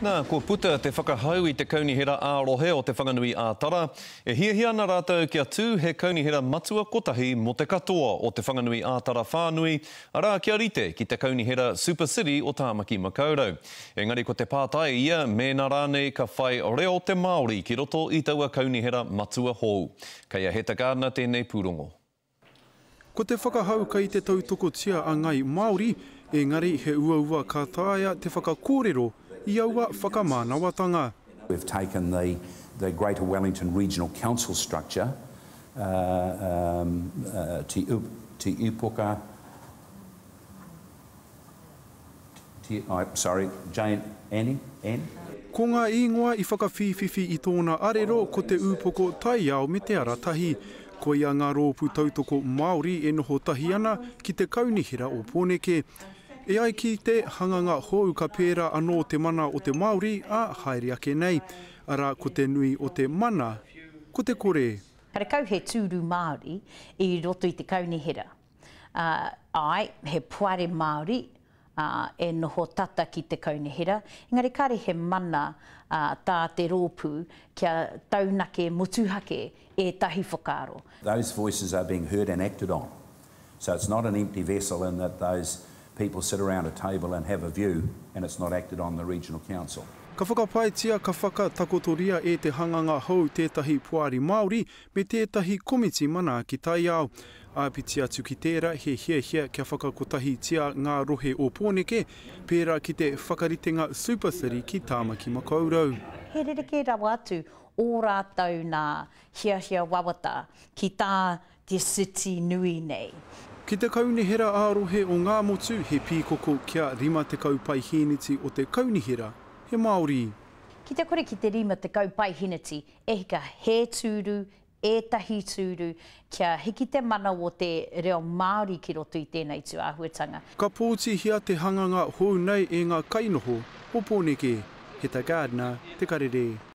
Nā, kua puta te whakahau i te Kaunihera ā-Rohe o Te Whanganui ā-Tara, e hiahia ana rātou kia tū he kaunihera matua kotahi mō te katoa o Te Whanganui ā-Tara whānui, arā, kia rite ki te kaunihera Super City o Tāmaki Makaurau. Engari ko te pātai ia mēnā rānei ka whai reo te Māori ki roto i taua kaunihera matua hou. Kei a Heta Gardiner tēnei pūrongo. Ko te whakahau kei te tautokotia a Ngai Māori, engari he uaua ka taea te whakakōrero i aua whakamānawatanga. We've taken the the Greater Wellington Regional Council structure, um, uh, Te Te Ūpoka, Ko ngā īngoa i whakawhīwhiwhi i tōna arero ko te upoko taiao me te ara tahi. Koia ngā rōpū tautoko Māori e noho tahi ana ki te Kaunihera o Pōneke. E ai ki te hanganga hou ka pērā anō te mana o te Māori, ā, haere ake nei, arā, ko te nui o te mana ko te kore. Karekau he tūru Māori i roto i te Kaunihera. Ā, āe, he poari Māori, ā, e noho tata ki te kaunihera, engari kāre he mana, ā, tā te rōpū kia taunake motuhake ētahi whakaaro. Those voices are being heard and acted on. So it's not an empty vessel in that those people sit around a table and have a view and it's not acted on in the regional council. Ka whakapaetia, ka whakatakotoria e te hanganga hou tētahi poari Māori me tētahi komiti manaaki taiao. Āpiti atu ki tērā, he hiahia kia whakakotahitia ngā rohe o Pōneke, pērā ki te whakaritenga Super City ki Tāmaki Makaurau. He rerekē rawa atu ō rātou nā hiahia wawata ki tā te city nui nei. Ki te Kaunihera ā-Rohe o Ngāmotu, he pīkoko kia 50 paihīniti o te Kaunihera he Māori. Ki te kore ki te 50 paihīniti e hika he tūru, ētahi tūru, kia hiki te mana o te reo Māori ki roto i tēnei tū āhuatanga. Ka pōtihia te hanganga hou nei e ngā kainoho o Pōneke, he tā Gardner te karere.